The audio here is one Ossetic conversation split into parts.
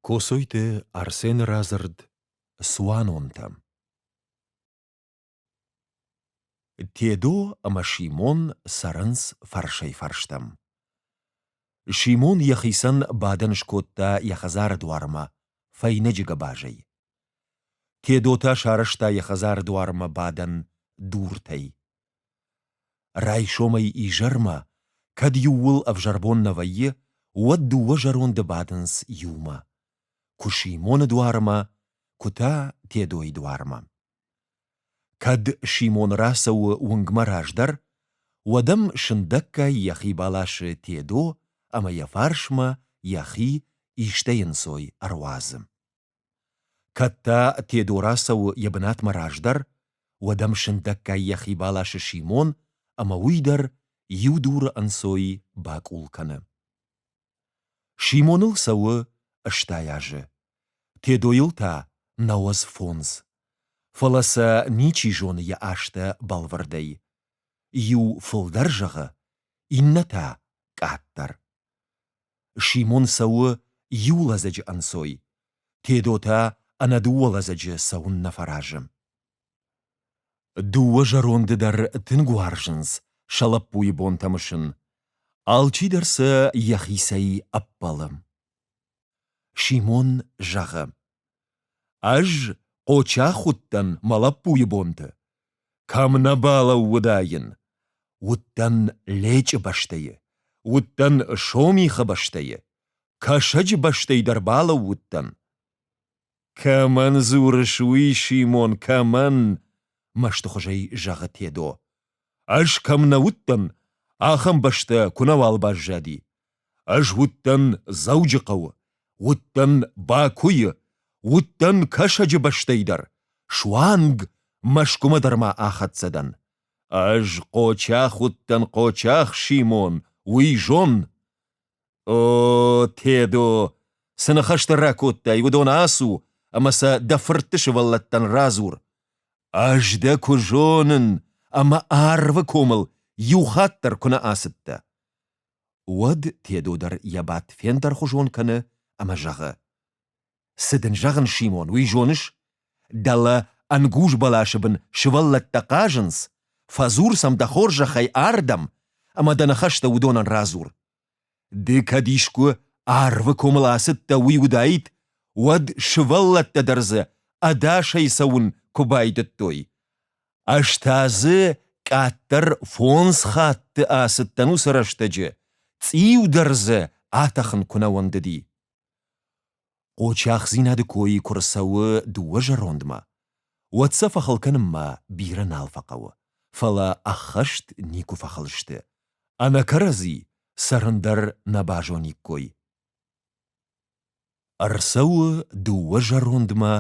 Коцойты Арсены радзырд «Цуанонтӕ». Тедо ӕмӕ Симон цӕрынц фӕрсӕй-фӕрстӕм. Симон йӕхицӕн бадӕн скодта йӕ хӕдзары дуармӕ фӕйнӕджы гӕбазӕй. Тедо та сарӕзта йӕ хӕдзары дуармӕ бадӕн дуртӕй. Райсомӕй изӕрмӕ, кӕд иууыл ӕвзӕрбон нӕ вӕййы, уӕд дыууӕ зӕронды бадынц иумӕ. Куы Симоны дуармӕ, куы та Тедойы дуармӕ. Кӕд Симон рацӕуы уынгмӕ раздӕр, уӕд ӕм сындӕггай йӕхи баласы Тедо ӕмӕ йӕ фарсмӕ йӕхи истӕй ӕнцой ӕруадзы. Кӕд та Тедо рацӕуы йӕ бынатмӕ раздӕр, уӕд ӕм сындӕггай йӕхи баласы Симон ӕмӕ уый дӕр иу дуры ӕнцой бакъул кӕны. Симоныл цӕуы стӕй азы. Тедойыл та науӕдз фондз. Фӕлӕ сӕ ничи зоны йӕ азтӕ бӕлвырдӕй. Иу фылдӕр зӕгъы, иннӕ та къаддӕр. Симон цӕуы иу лӕдзӕджы ӕнцой, Тедо та ӕнӕ дыууӕ лӕдзӕджы цӕуын нӕ фӕразы. Дыууӕ зӕронды дӕр тынг уарзынц сӕ лӕппуйы бонтӕ мысын, алчидӕр сӕ йӕхицӕй ӕппӕлы. Симон зӕгъы: Ӕз Хъочах уыдтӕн мӕ лӕппуйы бонты. Кӕм нӕ балӕууыдаин. Уыдтӕн Лечъы бӕстӕйы, уыдтӕн Сомихы бӕстӕйы, Кӕсӕджы бӕстӕй дӕр балӕууыдтӕн. Кӕмӕн дзурыс уый, Симон, кӕмӕн? мӕстыхуызӕй зӕгъы Тедо. Ӕз кӕм нӕ уыдтӕн, ахӕм бӕстӕ куынӕуал баззади. Ӕз уыдтӕн Дзӕуджыхъӕуы, уыдтӕн Бакуйы, уыдтӕн Кӕсӕджы бӕстӕй дӕр, суанг Мӕскуымӕ дӕр ма ахӕццӕ дӕн. Ӕз Хъочах уыдтӕн, Хъочах Симон, уый зон. О, Тедо, цы ныхӕстӕ ракодтай, уыдон ацу ӕмӕ сӕ дӕ фыртты сывӕллӕттӕн радзур. Ӕз дӕ куы зонын ӕмӕ арвы комыл иу хатт дӕр куы нӕ ацыдтӕ. Уӕд Тедо дӕр йӕ бадт фендӕрхуызон кӕны ӕмӕ зӕгъы. Цы дын зӕгъын, Симон, уый зоныс? Дӕлӕ ӕнгуз бӕласы бын сывӕллӕттӕ хъазынц, фӕдзур сӕм дӕ хорзӕхӕй ардӕм, ӕмӕ дӕ ныхӕстӕ уыдонӕн радзур. Ды кӕд искуы арвы комыл ацыдтӕ, уый уыдаид, уӕд сывӕллӕттӕ дӕр дзы ӕдасӕй цӕуын куы байдыдтой. Ӕз та дзы къаддӕр фондз хатты ацыдтӕн уыцы рӕстӕджы, цъиу дӕр дзы атӕхын куы нӕ уӕндыди. Къочахдзинады кой куы рцӕуы дыууӕ зӕрондмӕ, уӕд сӕ фӕхыл кӕнынмӕ бирӕ нал фӕхъӕуы, фӕлӕ ӕххӕст никуы фӕхыл сты, ӕнӕ кӕрӕдзи цӕрын дӕр нӕ базониккой. Ӕрцӕуы дыууӕ зӕрондмӕ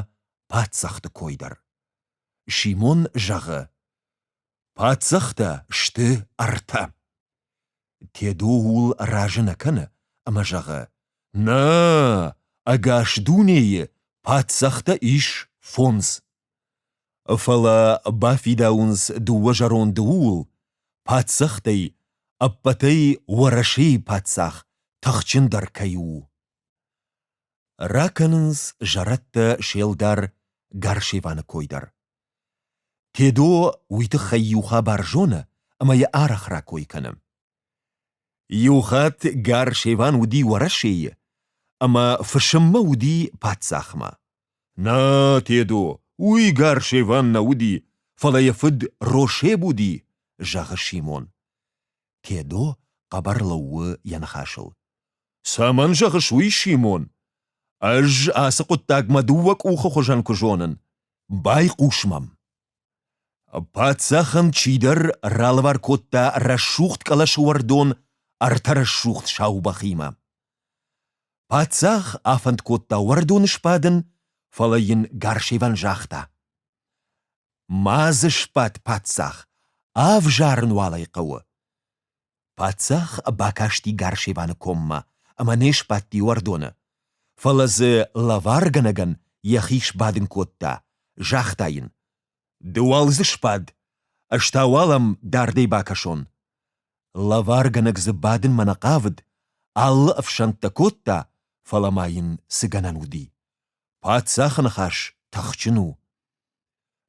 паддзахты кой дӕр. Симон зӕгъы: Паддзӕхтӕ сты ӕртӕ. Тедо ууыл разы нӕ кӕны ӕмӕ зӕгъы: Нӕ, ӕгас дунейы паддзӕхтӕ ис фондз. Фӕлӕ бафидауынц дыууӕ зӕронды ууыл, паддзӕхтӕй ӕппӕтӕй Уӕрӕсейы паддзах тыхджындӕр кӕй у. Ракӕнынц зӕрӕдтӕ се лдар Гарсеваны кой дӕр. Тедо уый тыххӕй иу хабар зоны ӕмӕ йӕ арӕх ракой кӕны. Иу хатт Гар-Шеван уыди Уӕрӕсейы, ӕмӕ фысыммӕ уыди паддзахмӕ. Нӕ, Тедо, уый Гар-Шеван нӕ уыди, фӕлӕ йӕ фыд Рошеб уыди, зӕгъы Симон. Тедо хъӕбӕр лӕууы йӕ ныхасыл. Цӕмӕн зӕгъыс уый, Симон? Ӕз ацы хъуыддагмӕ дыууӕ къухы хуызӕн куы зонын. Байхъус мӕм. Паддзахӕн чидӕр ралӕвар кодта рӕсугъд къласы уӕрдон ӕртӕ рӕсугъд саубӕхимӕ. Паддзах афӕнд кодта уӕрдоны сбадын, фӕлӕ йын Гарсеван загъта. Ма дзы сбад, паддзах, ӕвзарын уал ӕй хъӕуы. Паддзах бакасти Гарсеваны коммӕ ӕмӕ не сбадти уӕрдоны, фӕлӕ дзы лӕваргӕнӕгӕн йӕхи сбадын кодта, загъта йын: «Ды уал дзы сбад, ӕз та уал ам дардӕй бакӕсон». Лӕваргӕнӕг дзы бадынмӕ нӕ хъавыд, алы ӕфсӕнттӕ кодта, фӕлӕ ма йын цы гӕнӕн уыди. Паддзахы ныхас тыхджын у.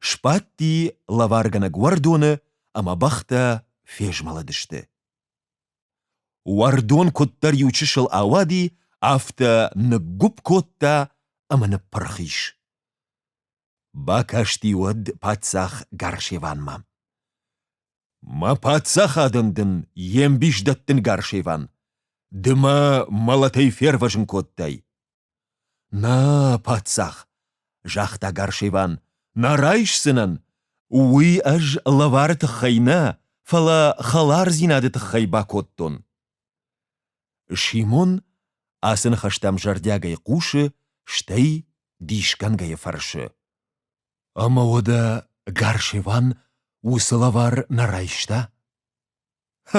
Сбадти лӕваргӕнӕг уӕрдоны, ӕмӕ бӕхтӕ фезмӕлыдысты. Уӕрдон куыддӕр иу чысыл ауади, афтӕ ныггуыпп кодта ӕмӕ ныппырх ис. Бакасти уӕд паддзах Гарсеванмӕ. Мӕ паддзахадӕн дын йе мбис дӕттын, Гарсеван, ды мӕ мӕлӕтӕй фервӕзын кодтай. Нӕ, паддзах, загъта Гарсеван, нӕ райсдзынӕн. Уый ӕз лӕвары тыххӕй нӕ, фӕлӕ хӕлардзинады тыххӕй бакодтон. Симон ацы ныхӕстӕм зӕрдиагӕй хъусы, стӕй дисгӕнгӕйӕ фӕрсы. Ӕмӕ уӕдӕ Гарсеван уыцы лӕвар нӕ райста?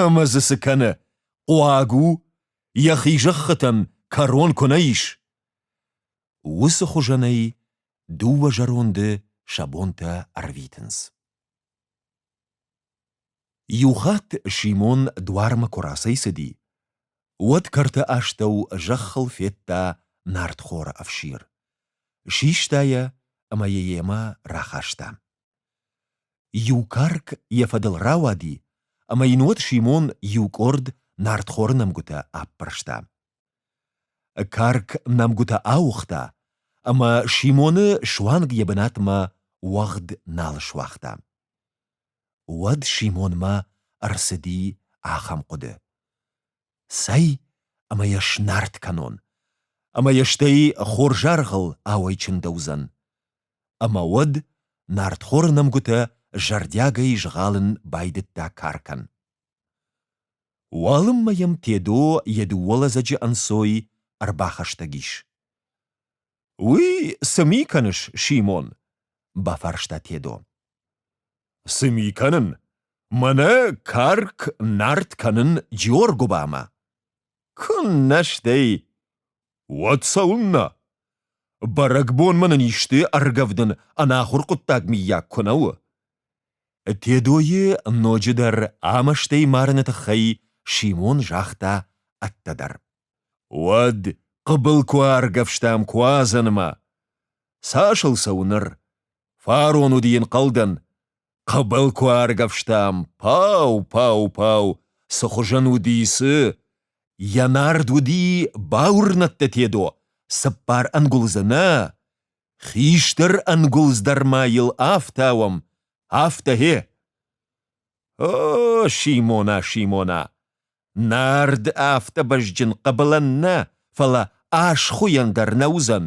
Ӕмӕ дзы цы кӕны? Хъуаг у? Йӕхи зӕххытӕн кӕрон куы нӕ ис? Уыцы хуызӕнӕй дыууӕ зӕронды сӕ бонтӕ ӕрвитынц. Иу хатт Симон дуармӕ куы рацӕйцыди, уӕд кӕрты астӕу зӕххыл федта нартхоры ӕфсир. Систа йӕ ӕмӕ йӕ йемӕ рахаста. Иу карк йӕ фӕдыл рауади, ӕмӕ йын уӕд Симон иу къорд нартхоры нӕмгуытӕ аппӕрста. Карк нӕмгуытӕ ауыгъта, ӕмӕ Симоны суанг йӕ бынатмӕ уӕгъд нал суагъта. Уӕд Симонмӕ ӕрцыди ахӕм хъуыды: Цӕй ӕмӕ йӕ снарт кӕнон, ӕмӕ йӕ стӕй хорзаргъыл ауӕйчындӕуыдзӕн. Ӕмӕ уӕд нартхоры нӕмгуытӕ зӕрдиагӕй згъалын байдыдта каркӕн. Уалынмӕ йӕм Тедо йӕ дыууӕ лӕдзӕджы ӕнцой ӕрбахӕстӕг ис. — Уый цы ми кӕныс, Симон? — бафарста Тедо. — Цы ми кӕнын? Мӕнӕ карк нард кӕнын Джиоргуыбамӕ. — Куыннӕ стӕй! Уӕд цӕуылнӕ? Бӕрӕгбонмӕ нын исты ӕргӕвдын ӕнахуыр хъуыддаг, миййаг, куы нӕ у? Тедойы ноджыдӕр ӕмӕстӕй марыны тыххӕй Симон загъта ӕддӕдӕр. Уӕд хъыбыл куы ӕргӕвстам Куадзӕнмӕ. Цас ыл цӕуы ныр? Фарон уыди йын хъалдӕн. Хъӕбӕл куы аргӕвстам, пау-пау-пау, цы хуызӕн уыди, цы! Йӕ нард уыди бауырнӕдтӕ, Тедо, цыппар ӕнгуылдзы нӕ! Хистӕр ӕнгуылдз дӕр ма йыл афтӕ уӕм, афтӕ гье! О, Симона, Симона! Нард афтӕ бӕзджын хъӕбылӕн нӕ, фӕлӕ асхуыйӕн дӕр нӕ уыдзӕн!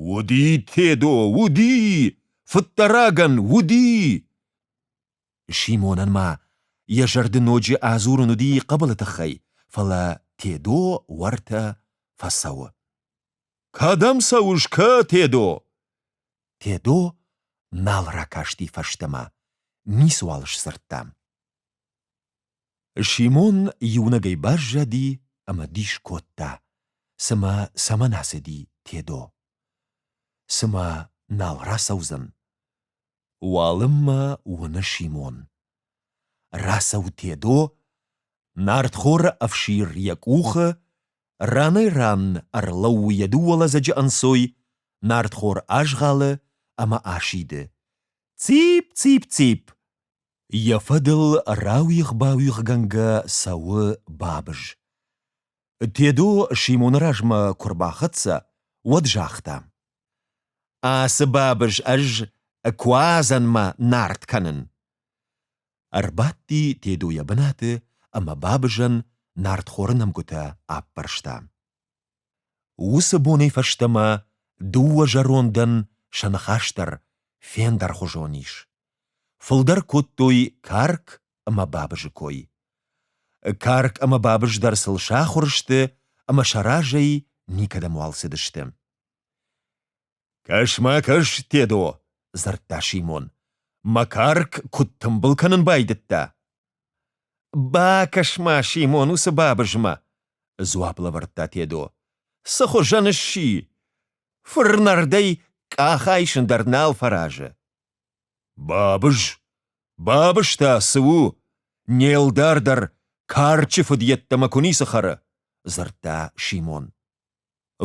Уди, Тедо, уди! Фыддӕрагӕн уди! Симонӕн ма йӕ зӕрды ноджы адзурын уыди хъыбылы тыххӕй, фӕлӕ Тедо уӕртӕ фӕцӕуы. — Кӕдӕм цӕуыс, кӕ, Тедо? Тедо нал ракасти фӕстӕмӕ, ницыуал сдзырдта. Симон иунӕгӕй баззади ӕмӕ дис кодта, цымӕ цӕмӕн ацыди Тедо. Цымӕ нал рацӕудзӕн? Уалынмӕ уыны Симон. Рацӕуы Тедо, нартхоры ӕфсир йӕ къухы, ранӕй-ран ӕрлӕууы йӕ дыууӕ лӕдзӕджы ӕнцой, нартхор азгъӕлы ӕмӕ асиды. Цip-цip-цip! Йӕ фӕдыл рауигъ-бауигъгӕнгӕ цӕуы Бабыз. Тедо Симоны размӕ куы рбахӕццӕ, уӕд загъта: «Ацы Бабыз ӕз Куадзӕнмӕ нард кӕнын». Ӕрбадти Тедо йӕ бынаты ӕмӕ Бабызӕн нартхоры нӕмгуытӕ аппӕрста. Уыцы бонӕй фӕстӕмӕ дыууӕ зӕрондӕн сӕ ныхас дӕр фендӕрхуызон ис. Фылдӕр кодтой карк ӕмӕ бабызы кой. Карк ӕмӕ бабыз дӕр сыл сахуыр сты ӕмӕ сӕ разӕй никӕдӕм уал цыдысты. — Кӕс-ма, кӕс, Тедо! — дзырдта Симон. — Макарк куыд тымбыл кӕнын байдыдта! — Бакӕс-ма, Симон, уыцы бабызмӕ! — дзуапп лӕвӕрдта Тедо. — Цы хуызӕн сси? Фырнӕрдӕй къах айсын дӕр нал фӕразы. — Бабыз? Бабыз та цы у? Не лдар дӕр карчы фыд йеддӕмӕ куы ницы хӕры! — дзырдта Симон.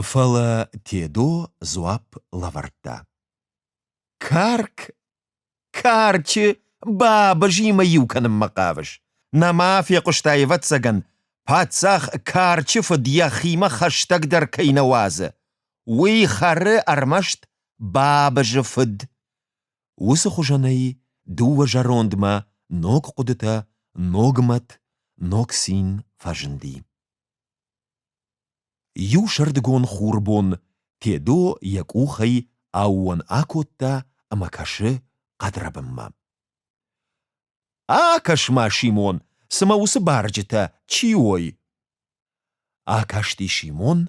Фӕлӕ Тедо дзуапп лӕвӕрдта. Карк, карчы бабызимӕ иу кӕнынмӕ хъавыс? Нӕма фехъуыста, ӕвӕццӕгӕн, паддзах карчы фыд йӕхимӕ хӕстӕгдӕр кӕй нӕ уадзы. Уый хӕры ӕрмӕст бабызы фыд. Уыцы хуызӕнӕй дыууӕ зӕрондмӕ ног хъуыдытӕ, ног мӕт, ног цин фӕзынди. Иу сӕрдыгон хурбон Тедо йӕ къухӕй аууон акодта ӕмӕ кӕсы хъӕдрӕбынмӕ. — Акӕс-ма, Симон, цымӕ уыцы барджытӕ чи уой? Акасти Симон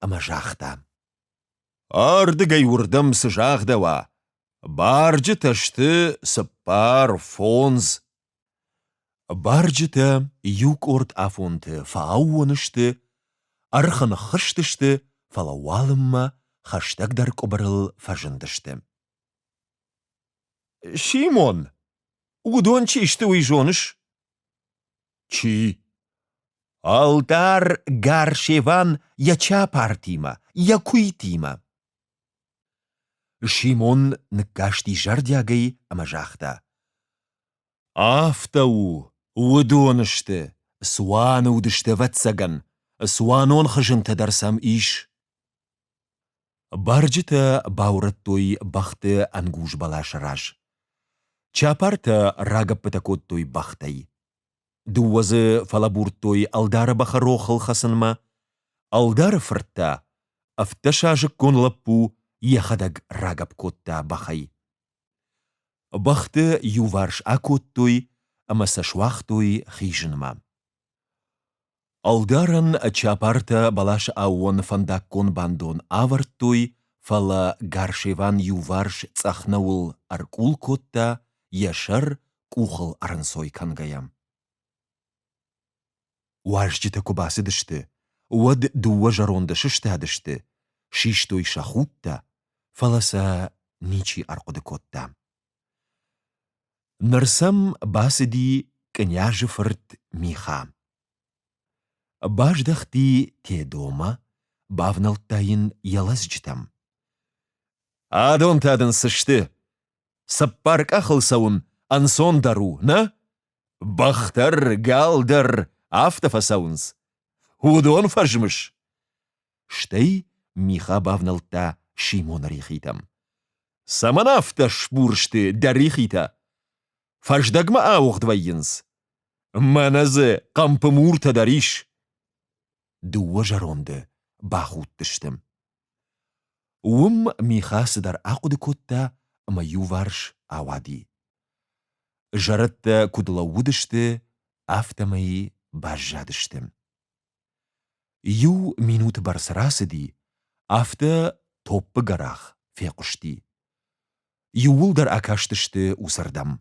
ӕмӕ загъта. — Ардыгӕй уырдӕм цы загъдӕуа, барджытӕ сты цыппар, фондз. Барджытӕ иукъорд афонты фӕаууон сты, ӕрхы ныххызтысты, фӕлӕ уалынмӕ хӕстӕгдӕр къуыбырыл фӕзындысты. — Симон, уыдон чи сты, уый зоныс? — Чи? Алтар Гаршеван йӕ чапартимӕ, йӕ куйтимӕ. Симон ныккасти зӕрдиагӕй ӕмӕ загъта. Афтӕ у, уыдон сты, цуаны уыдысты, ӕвӕццӕгӕн, цуанон хызынтӕ дӕр сӕм ис. Барджытӕ баурӕдтой бӕхты ӕнгуз бӕласы раз. Чапартӕ рагӕппытӕ кодтой бӕхтӕй. Дыууӕ дзы фӕлӕбурдтой ӕлдары бӕхы рохыл хӕцынмӕ. Ӕлдары фырт та, ӕфтдӕсазыккон лӕппу, йӕхӕдӕг рагӕпп кодта бӕхӕй. Бӕхты иуварс акодтой ӕмӕ сӕ суагътой хизынмӕ. Ӕлдарӕн чапартӕ бӕласы аууоны фӕндаггон бандон авӕрдтой, фӕлӕ Гарсеван иуварс цъӕх нӕуыл ӕркъул кодта, йӕ сӕр къухыл ӕрӕнцой кӕнгӕйӕ. Уазджытӕ куы бацыдысты, уӕд дыууӕ зӕронды сыстадысты, систой сӕ худтӕ, фӕлӕ сӕ ничи ӕрхъуыды кодта. Ныр сӕм бацыди князы фырт Миха. Баздӕхти Тедомӕ, бавнӕлдта йын йӕ лӕдзджытӕм. «Адон та дын цы сты? Цыппар къахыл цӕуын ӕнцондӕр у, нӕ? Бӕхтӕр, гӕлдӕр афтӕ фӕцӕуынц. Уыдон фӕзмыс? Стӕй Миха бавнӕлдта Симоны рихитӕм. Цӕмӕн афтӕ сбур сты дӕ рихитӕ? Фӕздӕгмӕ ауыгъд вӕййынц. Мӕнӕ дзы хъӕмпы муртӕ дӕр ис. Дыууӕ зӕронды бахудтысты. Уым Миха цыдӕр ахъуыды кодта ӕмӕ иуварс ауади. Зӕрӕдтӕ куыд лӕууыдысты, афтӕмӕй баззадысты. Иу минуты бӕрц рацыди, афтӕ топпы гӕрах фехъуысти. Иууылдӕр акастысты усырдӕм.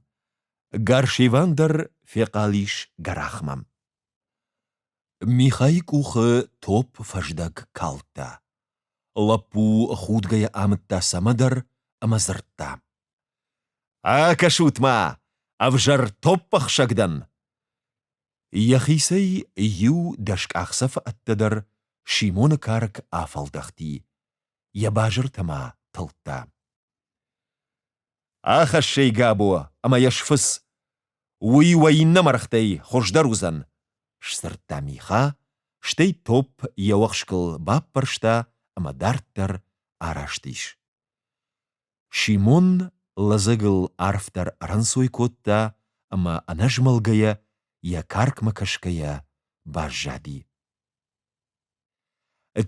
Гаршиван дӕр фехъал ис гӕрахмӕ. Михайы къухы топп фӕздӕг калдта. Лӕппу худгӕйӕ амыдта цӕмӕдӕр ӕмӕ дзырдта. «Акӕсут-ма, ӕвзӕр топпӕхсӕг дӕн!» Йӕхицӕй иу дӕс къахдзӕфы ӕддӕдӕр Симоны карк афӕлдӕхти, йӕ базыртӕ ма тылдта. Ахӕссӕй Габо ӕмӕ йӕ сфыц. Уый уӕ иннӕ мӕргътӕй хуыздӕр уыдзӕн, сдзырдта Миха, стӕй топп йӕ уӕхскыл баппӕрста ӕмӕ дарддӕр араст ис. Симон лӕдзӕгыл арфдӕр ӕрӕнцой кодта ӕмӕ ӕнӕзмӕлгӕйӕ, йӕ каркмӕ кӕсгӕйӕ баззади.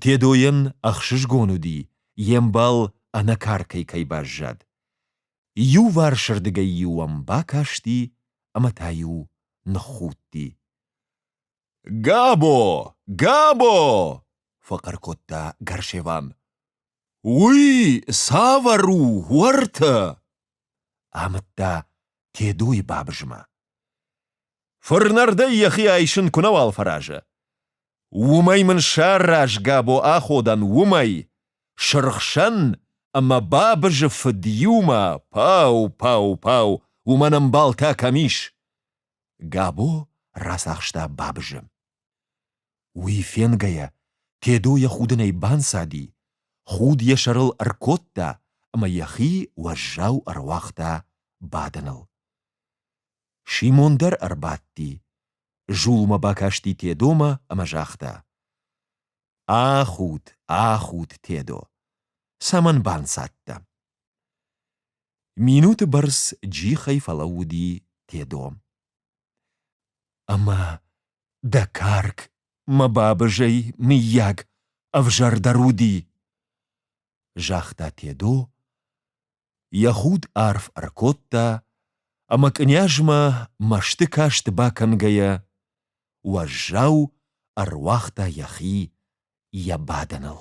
Тедойӕн ӕхсызгон уыди, йе мбал ӕнӕкӕркӕй кӕй баззад. Иуварсырдыгӕй-иу ӕм бакасти ӕмӕ та-иу ныххудти. — Габо! Габо! — фӕхъӕр кодта Гарсеван. — Уый цавӕр у уӕртӕ? — амыдта Тедойы бабызмӕ. Фырнӕрдӕй йӕхи айсын куы нӕуал фӕразы. Уымӕй мын сӕ рӕзгӕбо аходӕн уымӕй, сырхсӕн ӕмӕ бабызы фыд иумӕ пау-пау-пау, уымӕн ӕмбалтӕ кӕм ис? Габо рацахста бабызы. Уый фенгӕйӕ, Тедо йӕ худынӕй банцади, худ йӕ сӕрыл ӕркодта ӕмӕ йӕхи уӕззау ӕруагъта бадыныл. Симон дӕр ӕрбадти, зулмӕ бакасти Тедомӕ ӕмӕ загъта: «Ахуд, ахуд, Тедо, цӕмӕн банцадтӕ?» Минуты бӕрц джихӕй фӕлӕууыди Тедо. «Ӕмӕ дӕ карк, мӕ бабызӕй, мыййаг, ӕвзӕрдӕр уыди?» загъта Тедо Йӕ худ арф ӕркодта, ӕмӕ кънйазмӕ мӕсты каст бакӕнгӕйӕ, уӕззау ӕруагъта йӕхи йӕ бадӕныл.